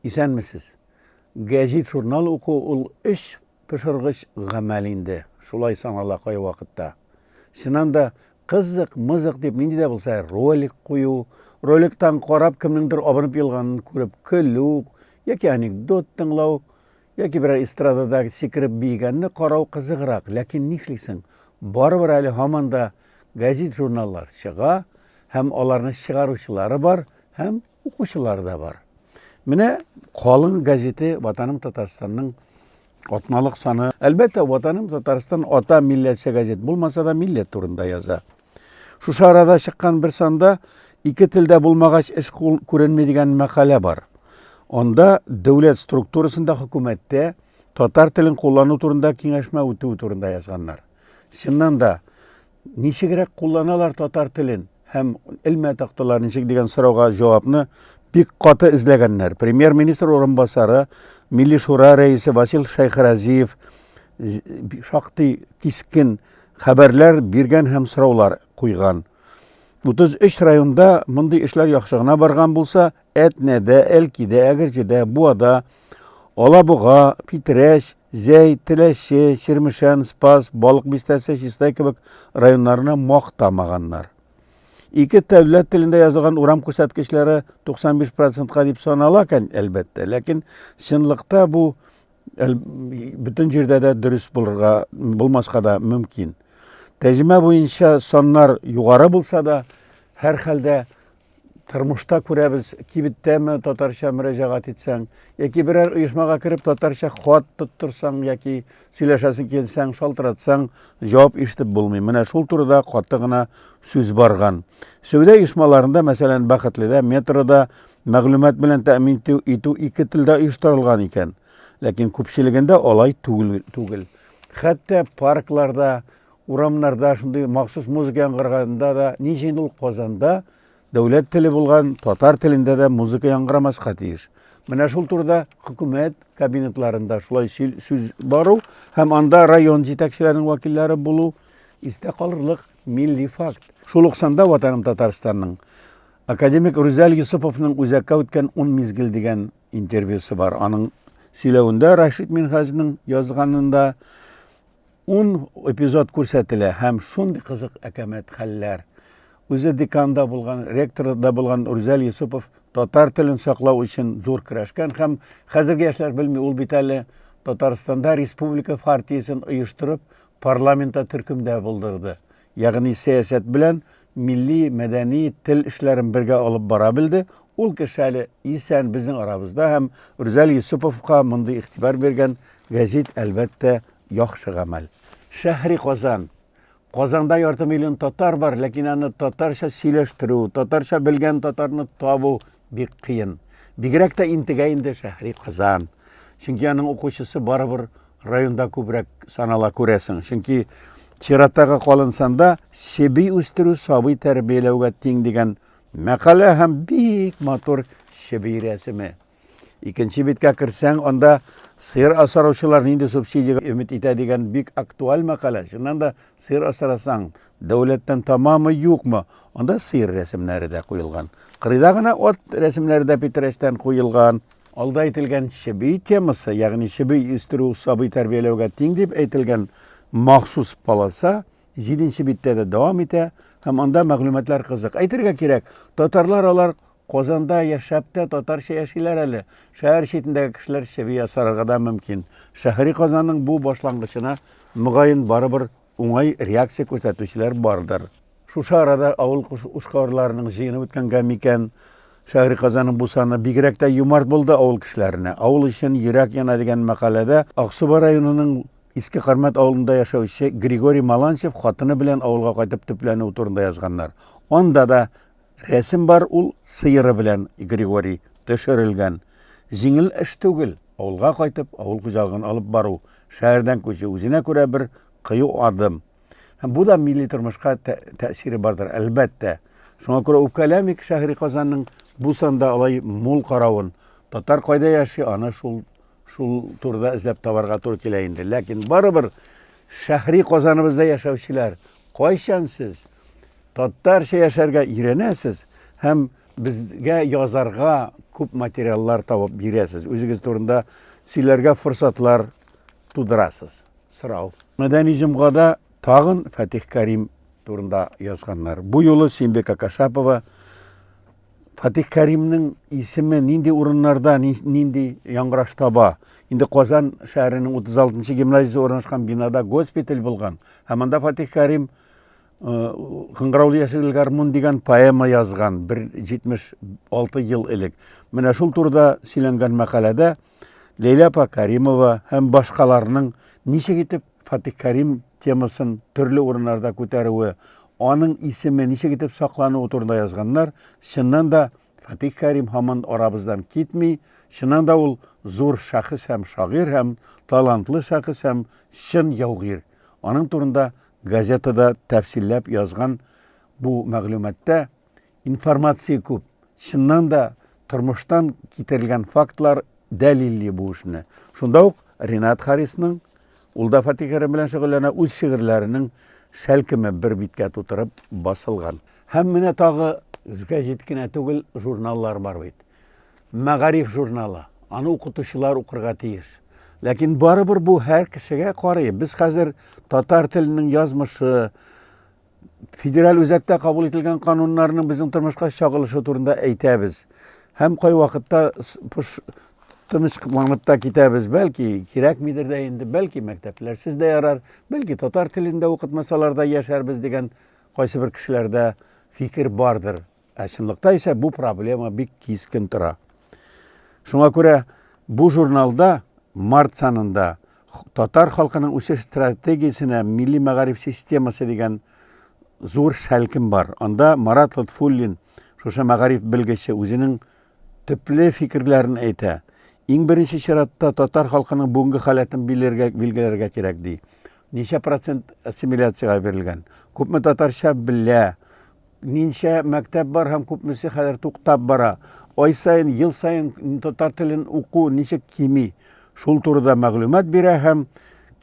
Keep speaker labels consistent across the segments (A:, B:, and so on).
A: Исәнмесез. Гәҗит журнал уку ул эш пошыргыч гамәл инде. Шулай санала кай вакытта. Чыннан да кызык, мызык дип нинди дә булса ролик кую, роликтан карап кемнеңдер абынып елганын күреп көлү яки анекдот тыңлау Яки берәр эстрадада сикереп биегәнне карау кызыграк, ләкин нишлисең, барыбер әле һаман да гәзит-журналлар чыга һәм аларны чыгаручылары бар һәм укучылары да бар. Менә Калын газете Ватаным Татарстанның атналык саны. Әлбәттә, Ватаным Татарстан ата милләтчә газет булмаса да, милләт турында яза. Шушы арада чыккан бер санда ике телдә булмагач эш күренми дигән мәкалә бар. Анда дәүләт структурасында хөкүмәттә татар телен куллану турында киңәшмә үтү турында язганнар. Чыннан да ничегрәк кулланалар татар телен һәм элмә тактылар ничек дигән сорауга җавапны бик каты эзләгәннәр. Премьер-министр урынбасары, Милли шура рәисе Васил Шәйхразиев шактый кискен Хәбәрләр биргән һәм сораулар куйган. 33 районда мондый эшләр яхшы гына барган булса, Әтнәдә, Әлкидә, Әгерҗедә, Буада, Алабуга, Питрәч, Зәй, Теләче, Чирмешән, Спас, Балык бистәсе, Чистай кебек районнарны мактамаганнар. Ике дәүләт телендә язылган урам күрсәткечләре 95 процентка дип санала кән, әлбәттә, ләкин чынлыкта бу Әл, бөтен җирдә дә дөрес булырга, булмаска да мөмкин. Тәҗемә буенча саннар югары булса да, һәр хәлдә тормышта күрәбез, кибеттәме татарча мөрәҗәгать итсәң, яки берәр оешмага кереп татарча хат тоттырсаң яки сөйләшәсең килсәң, шалтыратсаң, җавап ишетеп булмый. Менә шул турыда каты гына сүз барган. Сәүдә оешмаларында, мәсәлән, Бәхетледә, метрода Мәгълүмат белән тәэмин итү ике телдә оештырылган икән, ләкин күпчелегендә алай түгел. Хәтта паркларда, урамнарда шундый махсус музыка яңгыраганда да, ни өчен ул Казанда дәүләт теле булган татар телендә дә музыка яңгырамаска тиеш? Менә шул турыда хөкүмәт кабинетларында шулай сүз бару һәм анда район җитәкчеләренең вәкилләре булу истә калырлык милли факт. Шул ук санда Ватаным Татарстанның Академик Рүзәл Йосыповның үзәккә үткән ун мизгел дигән интервьюсы бар. Аның сөйләвендә Рашид Минхаҗның язганында ун эпизод күрсәтелә һәм шундый кызык әкәмәт хәлләр. Үзе деканда булган, ректорда булган Рүзәл Йосыпов татар телен саклау өчен зур көрәшкән һәм хәзерге яшьләр белми, ул бит әле Татарстанда республика партиясен оештырып, парламентта төркемдә булдырды. Ягъни сәясәт белән милли, мәдәни, тел эшләрен бергә алып бара белде. Ул кеше әле исән безнең арабызда һәм Рүзәл Йосыповка мондый игътибар биргән гәзит, әлбәттә, яхшы гамәл. Шәһри Казан. Казанда ярты миллион татар бар, ләкин аны татарча сөйләштерү, татарча белгән татарны табу Бик кыен. Бигрәк тә интегә инде Шәһри Казан. Чөнки аның укучысы барыбер районда күбрәк санала күрәсең. Чөнки чираттагы калын санда себи үстерү сабый тәрбияләүгә тиң дигән мәкалә һәм бик матур себи рәсеме. Икенче биткә керсәң, анда сыер асраучылар нинди субсидиягә өмет итә дигән бик актуаль мәкалә. Чыннан да Сыер асрасаң, дәүләттән тамамы юкмы? Анда сыер рәсемнәре дә куелган. Кырыйда гына ат рәсемнәре дә питрәчтән куелган. Алда әйтелгән чеби темасы, ягъни чеби үстерү сабый тәрбияләүгә тиң дип әйтелгән махсус полоса җиденче биттә дә дәвам итә һәм анда мәгълүматлар кызык. Әйтергә кирәк, татарлар алар Казанда яшәп тә татарча яшиләр әле. Шәһәр читендәге кешеләр чеби ясарга да мөмкин. Шәһри Казанның бу башлангычына, мөгаен, барыбер уңай реакция күрсәтүчеләр бардыр. Шушы арада авыл эшкуарларының җыены үткәнгә микән, Шәһри Казанның бу саны бигрәк тә юмарт булды авыл кешеләренә. Авыл өчен йөрәк яна дигән мәкаләдә Аксубай районының Иске Кармәт авылында яшәүче Григорий Маланчев хатыны белән авылга кайтып төпләнүе турында язганнар. Анда да Рәсем бар ул сыеры белән Григорий төшерелгән. Җиңел эш түгел, авылга кайтып, авыл хуҗалыгын алып бару, шәһәрдән күчү үзенә күрә бер кыю адым. Һәм бу да милли тормышка тәэсире бардыр, әлбәттә. Шуңа күрә үпкәләмик шәһри Казанның бу санда алай мул каравын. Татар кайда яши, аны шул шул турыда эзләп табарга туры килә инде. Ләкин барыбер шәһри Казаныбызда яшәүчеләр Кайчан сез татарча яшәргә өйрәнәсез һәм безгә язарга күп материаллар табып бирәсез, үзегез турында сөйләргә форсатлар тудырасыз? Сорау. Мәдәни җомгада тагын Фатих Карим турында язганнар. Бу юлы Симбека Кашапова Фатих Кәримнең исеме нинди урыннарда, нинди яңгыраш таба? Инде Казан шәһәренең 36-нчы гимназиясе урнашкан бинада госпиталь булган. Һәм анда Фатих Кәрим Кыңгыраулы яшел гармун дигән поэма язган бер 76 ел элек. Менә шул турыда сөйләнгән мәкаләдә Ләйлә апа Кәримова һәм башкаларның ничек итеп Фатих Кәрим темасын төрле урыннарда күтәрүе, аның исеме ничек итеп саклануы турында язганнар. Чыннан да, Фатих Кәрим һаман арабыздан китми. Чыннан да ул зур шәхес һәм шагыйрь һәм талантлы шәхес һәм чын яугир. Аның турында газетада тәфсилләп язган бу мәгълүматта, Информация күп. Чыннан да, тормыштан китерелгән фактлар дәлилли бу эшне. Шунда ук Ринат Харисның, ул да фотикеры белән шөгыльләнә, үз шигырьләренең шәлкеме бер биткә тутырып басылган. Һәм менә тагы гәҗит кенә түгел, журналлар бар бит. Мәгариф журналы. Аны укытучылар укырга тиеш. Ләкин барыбер бу һәр кешегә карый. Без хәзер татар теленең язмышы, Федераль үзәктә кабул ителгән кануннарның безнең тормышка чагылышы турында әйтәбез. Һәм кай вакытта тыныч кыланып та китәбез. Бәлки кирәкмидер дә инде, бәлки мәктәпләрсез дә ярар, бәлки татар телендә укытмасалар да яшәрбез дигән кайсы бер кешеләрдә фикер бардыр. Ә чынлыкта исә бу проблема бик кискен тора. Шуңа күрә бу журналда март санында татар халкының үсеш стратегиясенә милли мәгариф системасы дигән зур шәлкем бар. Анда Марат Лотфуллин, шушы мәгариф белгече, үзенең төпле фикерләрен әйтә. Иң беренче чиратта татар халкының бүгенге халәтен билгеләргә кирәк, ди. Ничә процент ассимиляциягә бирелгән? Күпме татарча белә? Ничә мәктәп бар һәм күпмесе хәзер туктап бара? Ай саен, ел саен татар телен уку ничек кими? Шул турыда мәгълүмат бирә һәм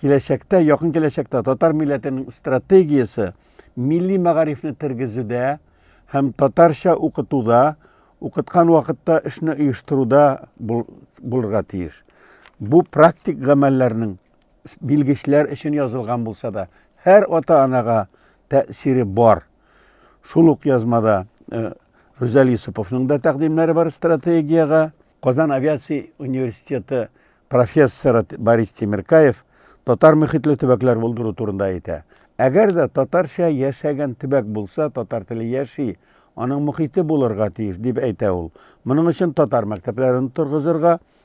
A: киләчәктә, якын киләчәктә татар милләтенең стратегиясе милли мәгарифне тергезүдә һәм татарча укытуда, укыткан вакытта эшне оештыруда булырга тиеш. Бу практик гамәлләрнең билгечләр өчен язылган булса да, һәр ата-анага тәэсире бар. Шул ук язмада э, Рүзәл Юсуповның да тәкъдимнәре бар стратегиягә. Казан авиация университеты профессоры Борис Тимиркаев татар мөхитле төбәкләр булдыру турында әйтә. Әгәр дә татарча яшәгән төбәк булса, татар теле яши, аның мөхите булырга тиеш, дип әйтә ул. Моның өчен татар мәктәпләрен торгызырга,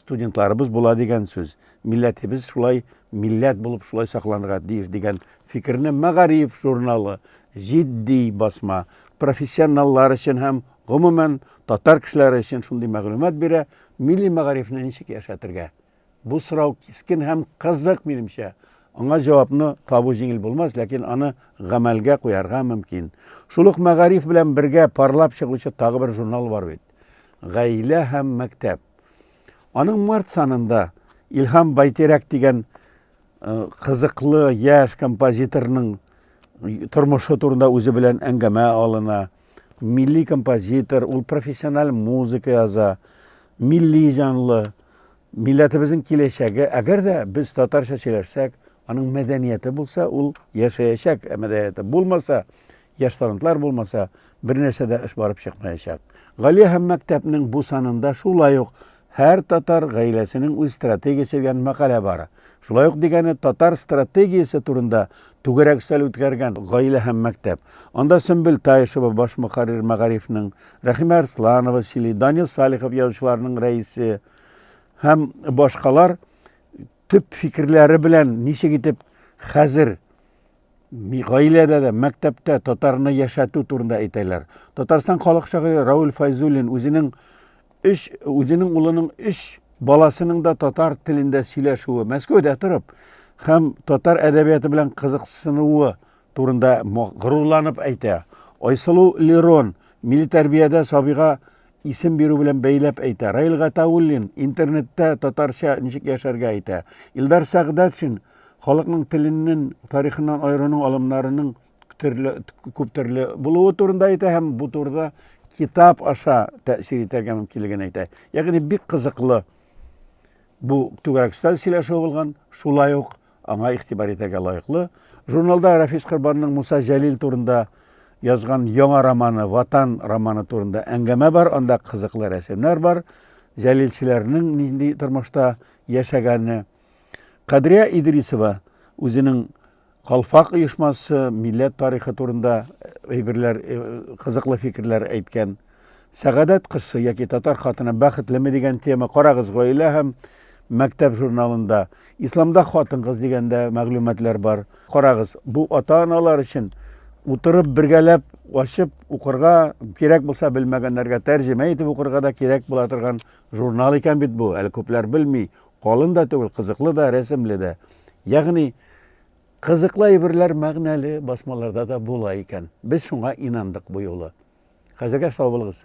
A: Студентларыбыз була дигән сүз. Милләтебез шулай милләт булып шулай сакланырга тиеш дигән фикерне Мәгариф журналы, җитди басма, профессионаллар өчен һәм, гомумән, татар кешеләре өчен шундый мәгълүмат бирә, милли мәгарифне ничек яшәтергә? Бу сорау кискен һәм кызык, минемчә. Аңа җавапны табу җиңел булмас, ләкин аны гамәлгә куярга мөмкин. Шул ук Мәгариф белән бергә парлап чыгучы тагы бер журнал бар бит. Гаилә һәм мәктәп. Аның март санында Илһам Байтирәк дигән кызыклы яшь композиторның тормышы турында үзе белән әңгәмә алына. Милли композитор, ул профессиональ музыка яза, милли җанлы, милләтебезнең киләчәге. Әгәр дә без татарча сөйләшсәк, аның мәдәнияте булса, ул яшәячәк мәдәнияте. Булмаса, Яшь талантлар булмаса, бернәрсә дә эш барып чыкмаячак. Галия һәм мәктәпнең бу санында шулай ук һәр татар гаиләсенең үз стратегиясе дигән мәкалә бар. Шулай ук дигәне татар стратегиясе турында түгәрәк өстәл үткәргән гаилә һәм мәктәп. Анда Сөмбел Таишева баш мөхәррир мәгарифнең, Рәхимә Арсланова сөйли, Данил Салихов язучыларның рәисе һәм башкалар төп фикерләре белән ничек итеп хәзер Гаиләдә дә, мәктәптә татарны яшәтү турында әйтәләр. Татарстан халык шагыйре Рауль Файзуллин үзенең өч үзенең улының өч баласының да татар телендә сөйләшүе, Мәскәүдә торып, һәм татар әдәбияты белән кызыксынуы турында горурланып әйтә. Айсылу Лерон милли тәрбиядә сабыйга Исем бирү белән бәйләп әйтә. Раил Гатауллин интернетта татарча ничек яшәргә әйтә. Илдар Сәгъдәтшин халыкның теленнән, тарихыннан аерының алымнарының төрле күп төрле булуы турында әйтә һәм бу турыда китап аша тәэсир итәргә мөмкинлеген әйтә. Ягъни бик кызыклы бу түгәрәк өстәл сөйләшүе булган. Шулай ук Аңа игътибар итәргә лаеклы, журналда Рәфис Корбанның Муса Җәлил турында язган яңа романы Ватан романы турында әңгәмә бар, анда кызыклы рәсемнәр бар, җәлилчеләрнең нинди тормышта яшәгәне. Кадрия Идрисова үзенең Калфак оешмасы, милләт тарихы турында әйберләр, э, кызыклы фикерләр әйткән. Сәгадәт кызчы яки татар хатыны бәхетлеме дигән тема Карагыз гаилә һәм мәктәп журналында. Исламда хатын-кыз дигәндә мәгълүматлар бар. Карагыз, бу ата-аналар өчен утырып бергәләп ачып укырга кирәк булса белмәгәннәргә тәрҗемә итеп укырга да кирәк була торган журнал икән бит бу. Әле күпләр белми. Калын да түгел, кызыклы да, рәсемле дә. Ягъни кызыклы әйберләр мәгънәле басмаларда да була икән. Без шуңа инандык бу юлы. Хәзергә сау булыгыз.